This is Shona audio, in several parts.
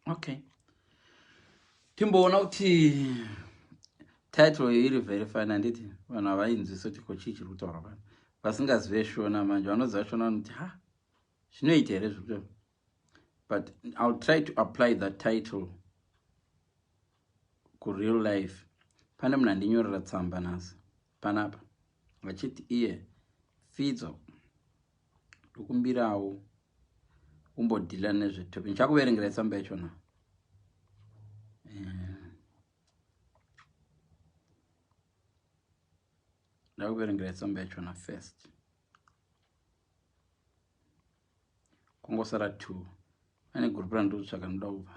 okay timboona kuti title iyi iri very fine handiti vanhu havainzwisa kuti ko chii chiri kutaura vanhu vasingazive shona manje vanoziva shona vanoti ha zvinoita here zviri kutaura but ill try to apply that title kureal life pane munhu andinyorera tsamba nhasi panapa vachiti iye fidzo ndokumbirawo kumbodhila nezvetopi ndichakuverengera itsamba yacho na eh. ndakuverengera itsamba yacho na first kungosara two ane gurupu randiri kutsvaka ndoda kubva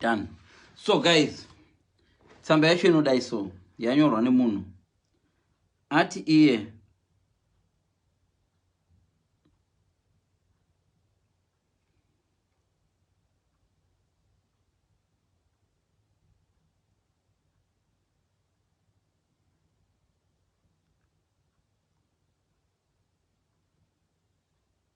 done so guys tsamba yacho inodai so yanyorwa nemunhu ati iye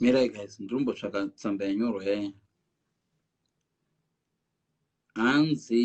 mirai guys ndirumbotsvaka tsamba yanyorwa yaya hanzi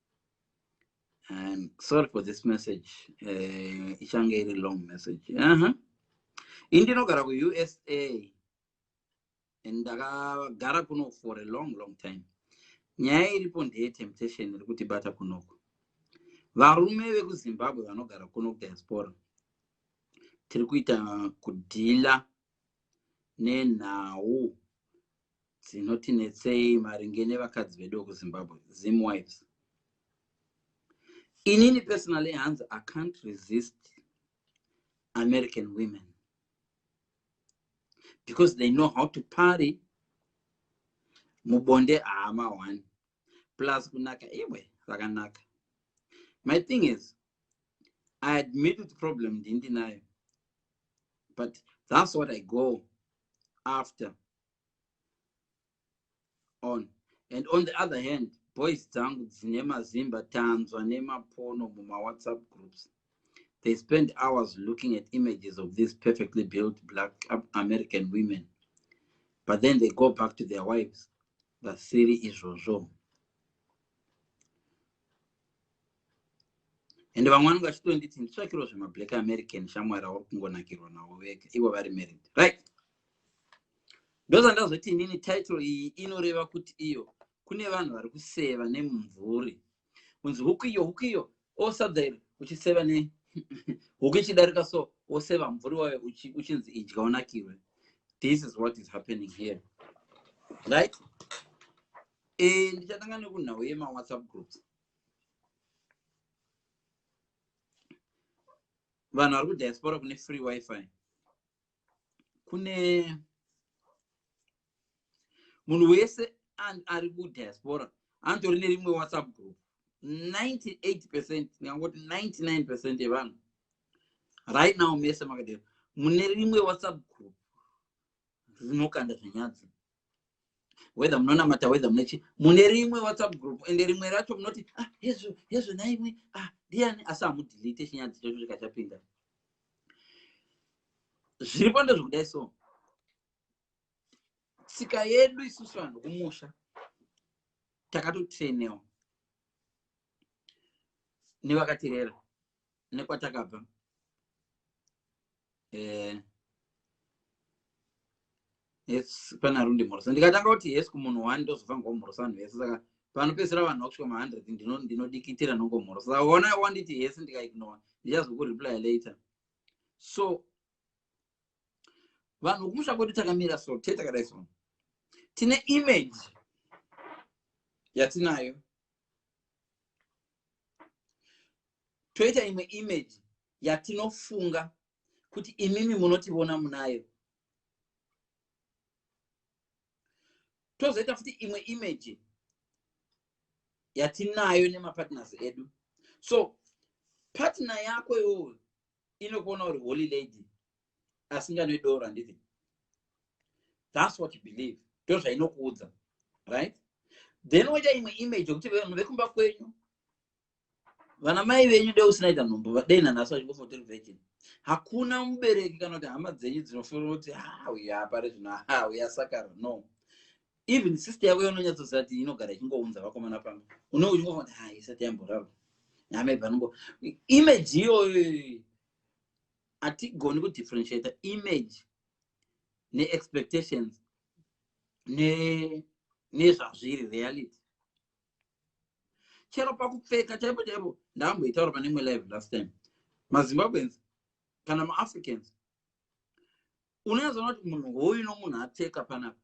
I'm sorry for this message eh, ichange uh, iri long message uh -huh. indinogara kuusa and ndakagara kuno for a long long time nyaya iripo ndeye temptation iri kutibata kunoko varume vekuzimbabwe vanogara kuno kudiaspora tiri kuita kudhila nenhau dzinotinetsei maringe nevakadzi vedu vekuzimbabwe zim wives inini personally hanzi i can't resist american women because they know how to party mubonde haama one plus kunaka iwe rakanaka my thing is i admit kuti problem ndindinayo but that's what i go after on and on the other hand boys dzangu dzine mazimba tanzwa nemapono mumawhatsapp groups they spend hours looking at images of these perfectly built black american women but then they go back to their wives vasiri izvozvo and vamwe vanenge vachitonditi nditsvakirwo zvemablack american shamwari auri kungonakirwa navo vega ivo vari married right ndozvandazoti inini title iyi inoreva kuti iyo kune vanhu vari kuseva nemumvuri kunzi huku iyo huku iyo osadza iri uchiseva ne huku ichidarika so woseva mvuri wayo uchinzi idya unakirwe this is what is happening here right e, ndichatanga nekunhau yemawhatsapp groups vanhu vari kudiaspora kune free wifi kune munhu wese ari kudiaspora anotori nerimwe whatsapp group 98 percent ndingangoti 99 percent yevanhu right now mese makadero mune rimwe whatsapp group rinokanda zvenyadzi whether munonamata whether munechi mune rimwe whatsapp group ende rimwe racho munoti ah hezvo hezvo naimwe ah ndiani asi hamudelete chinyadzi chacho chikachapinda zviri pando zvokudai so tsika yedu isusu vanhu kumusha takatotrainewa nevakaterera nekwatakabva eh, yes pana rundi mhorosa ndikatanga kuti yes kumunhu one ndozobva ngomhorosa vanhu vese saka panopedzisira vanhu vakusvika mahundred ndinodikitira ndino nongomhorosa saka ona wanditi yes ndikaignore ndichazokureply later so vanhu vokumusha kwedu takamira so te takadai so tine image yatinayo toita imwe image yatinofunga kuti imimi munotivona munayo tozoita futi imwe image yatinayo nemapartners edu so patna yako iwoyo inokuona uri holy lady asinganoidoro handiti thats what you believe ndozvainokuudza right then woita imwe image yekuti vanhu vekumba kwenyu vana mai venyu dei usinaita nhumbu vadei nanhasi vachingofotori virgin hakuna mubereki kana kuti hama dzenyu dzinofunga kuti hauya ah, apari zvino hauya ah, sakaro no even sister yako yaunonyatsoziva kuti inogara ichingounza vakomana pamba unenge uchingofa kuti hai ah, isati yamboraro namaibva anongo image iyoyo hatigoni kudifferentiata image neexpectations nezvazviri ne reality chero pakupfeka chaipo chaipo ndaamboitaura pane imwe live last time mazimbabweans kana maafricans unoyazoona kuti munhu hoyu nomunhu apfeka panapa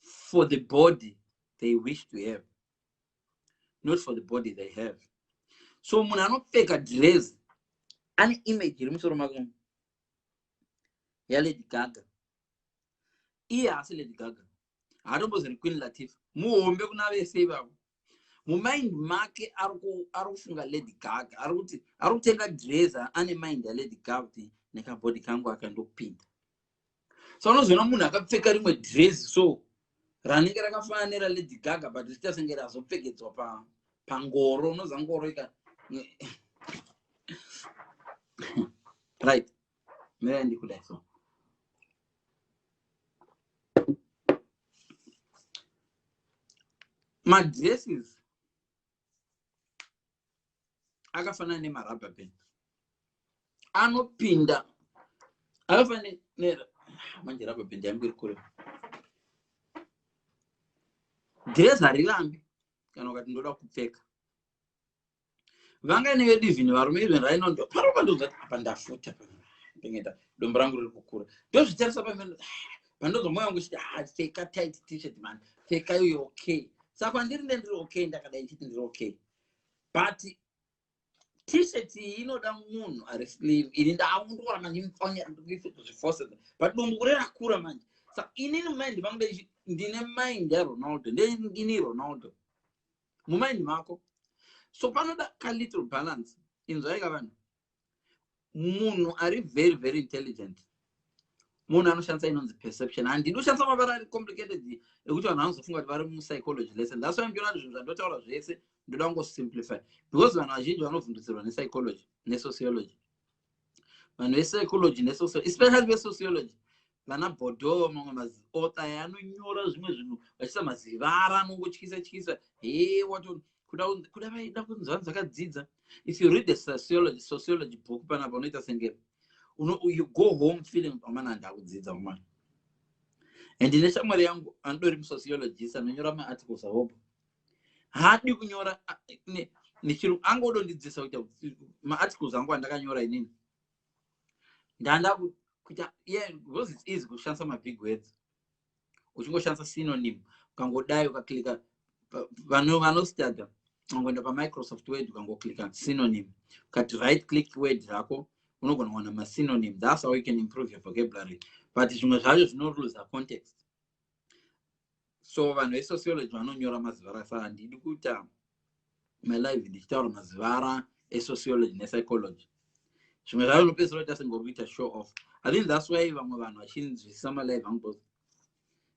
for the body they wish to have not for the body they have so munhu anopfeka dress ane image iri musoro make yalady gaga iye haasi lady gaga haatombozori queen latifa muhombe kuna vese ivavo mumind make ari kufunga lady gaga ari kuti ari kutenga dresa ane mind yalady gaga kuti nekabody kangu akandokupinda so unozoona munhu akapfeka rimwe dresi so ranenge rakafanana neralady gaga but richiita senge razopfekedzwa pangoro unoziva ngoro ika right mirai ndikudai so madresses akafanana nemarubber band anopinda akafanana ne manje rubber band yangu iri kure dress harirambi kana ukati ndoda kupfeka vangaine vedu even varume even rainondo parova ndonzwa kuti apa ndafuta pengeta dombo rangu riri kukura ndozvitarisa pamene pandonzwa moyo wangu uchiti ha ah, pfeka tight t-shirt man pfeka iyoyo okay saka kwandiri nde ndiri okay ndakadai ndichiti ndiri okay but t-shirt iyi inoda munhu ari sleeve ini ndaakundikora manje imfanya ndikuifekuzvifose but dombo kure rakura manje saka inini mind vangu ndine mind yaronaldo ndeini ronaldo mumaindi mako so panoda ka little balance inzwaika vanhu munhu ari very very intelligent munhu anoshandisa inonzi perception handidi kushandisa mavara ari complicated ekuti vanhu vanozofunga kuti vari mupsychology lesson thats why ndiona kuti zvinhu zvandotaura zvese ndoda kungosimplify because vanhu vazhinji vanovhundutsirwa nepsychology nesociology vanhu vepsychology nesocial especially vesociology vana bhodhoo mamwe maziota anonyora zvimwe zvinhu vachisa mazivara anongotyisa tyisa he wato kuda vaida kunzi vanhu vakadzidza if you read the sociology, sociology book panapa unoita senge you go home feeling amana handi akudzidza mumana and ine shamwari yangu anodori musociologist anonyora maarticles ahopo haadi kunyora nechirungu anga odondidzisa kuita maarticles angu andakanyora inini ndanda kuita ye because its easy kushandisa mabig words uchingoshandisa synonym ukangodai ukaklika vanostuda unongoenda pamicrosoft word ukangoklika synonym ukati right click word rako unogona kuwana masynonym thats how you can improve your vocabulary but zvimwe zvacho zvinoluza context so vanhu vesociology vanonyora mazivara sa handidi kuita my life ndichitaura mazivara esociology nepsychology zvimwe zvavo nopedzisira kuita sengori kuita show off i think thats why vamwe vanhu vachinzwisisa malife angu bcause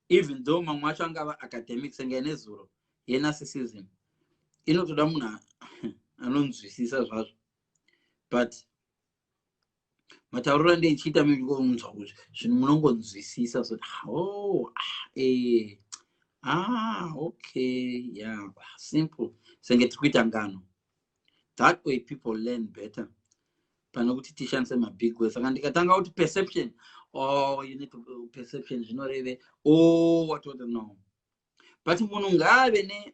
even though mamwe acho angava academic senge nezuro yenarcissism inotoda munhu anonzwisisa zvazvo but matauriro ende ichiita mingonzwa kuti zvinhu munongonzwisisa zoti oh, ah, eh, ah, okay yeah simple senge tiri kuita ngano that way people learn better pane kuti tishandise mabig way saka ndikatanga kuti perception oh you need to uh, perception zvinoreve oh watoda no but munhu ngaave ne